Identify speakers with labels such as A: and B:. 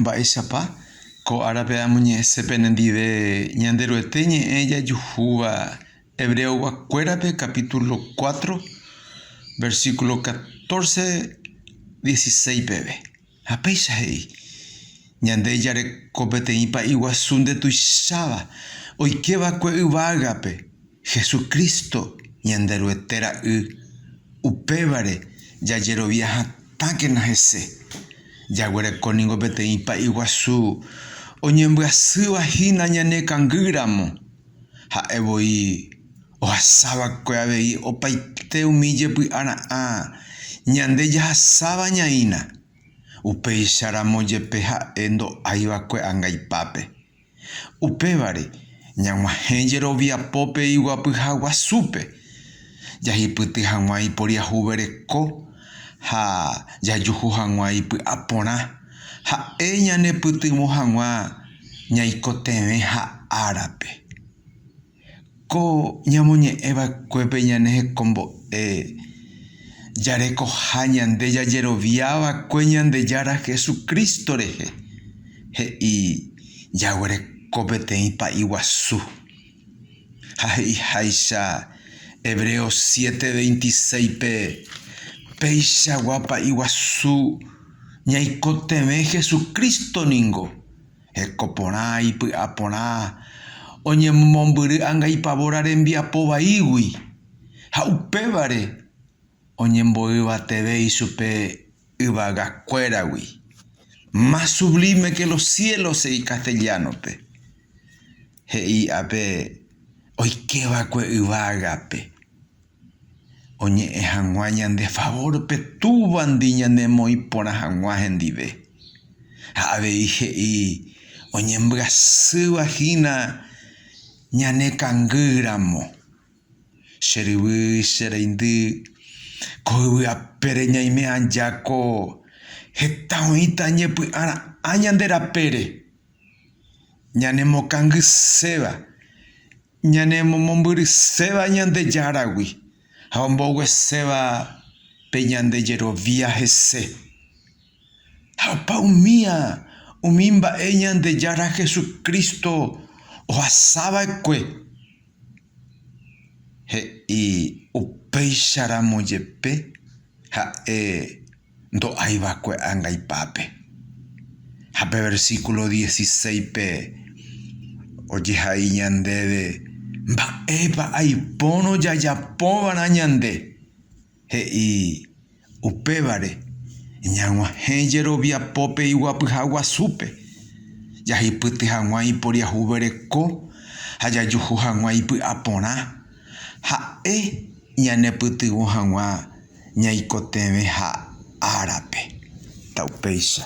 A: Mba'éichapa ko árape amoñe'ẽse penendive Ñanderuete ñe'ẽ jajuhúva Hebreogua kuérape capítulo cuatro, versículo catorce, dieciséis peve? Ha péicha he'i, Ñande jareko peteĩ pa'i guasu ndetuicháva, oike va'ekue yvágape. Hesu Crísto Ñanderuete Ra'y, upévare jajerovia hatãkena hese. Jaguereko ningo peteĩ pa'i guasu oñembyasýva hína ñane kangýramo. Ha'e voi ohasa va'ekue avei opaite umi jepy'ara'ã ñande jahasáva ñaína, upéicha ramo jepe ha'e ndo'ái va'ekue angaipápe. Upévare, ñag̃uahẽ jeroviapópe iguapyha guasúpe, jahipyty hag̃ua iporiahuvereko ha jajuhu hag̃ua ipy'aporã, ha'e ñanepytyvõ hag̃ua ñaikotevẽha árape. Ko ñamoñe'ẽ vaekuépe ñane hekombo'e jarekoha ñande jajerovia vakue Ñandejára Jesucristo rehe, he'i jaguereko peteĩ pa'i guasu. Ha he'iháicha Hebreos 7, 26-pe, Peichagua pa'i guasu ñaikotevẽ Jesucristo ningo. Hekoporã, ipy'aporã, oñemomombyry angaipavóra rembiapo vaígui, ha upévare oñemboyvateve ichupe yvagakuéragui. Más sublime que los cielos, he'i castellano-pe, he'i ápe oikéva'ekue yvágape. oñe'ẽ hag̃ua ñande favórpe Túvandi ñanemoĩ porã hag̃ua hendive. Ha avei he'i oñembyasýva hína ñane kangy ramo. Che ryvy, che reindy, ko yvy apére ñaime aja ko heta oĩta ñepy'ara'ã ñande rapére, ñanemokangyséva, ñanemomombyryséva Ñandejáragui ha ombogueséva pe ñande jerovia hese. Ha opa umía umi mba'e Ñandejára Jesucristo ohasava'ekue, he'i upéicharamo jepe ha'e. ndo'ái va'ekue angaipápe. Ha pe versíkulo diesiseipe ojehai ñandéve mba'épa aipórõ jajapova'erã ñande. He'i, Upévare, ñag̃uahẽ jeroviapo pe iguapyha guasúpe, jahipyty hag̃ua iporiahuvereko ha jajuhu hag̃ua ipy'aporã. Ha'e ñanepytyvõ hag̃ua ñaikotevẽha árape. Taupéicha.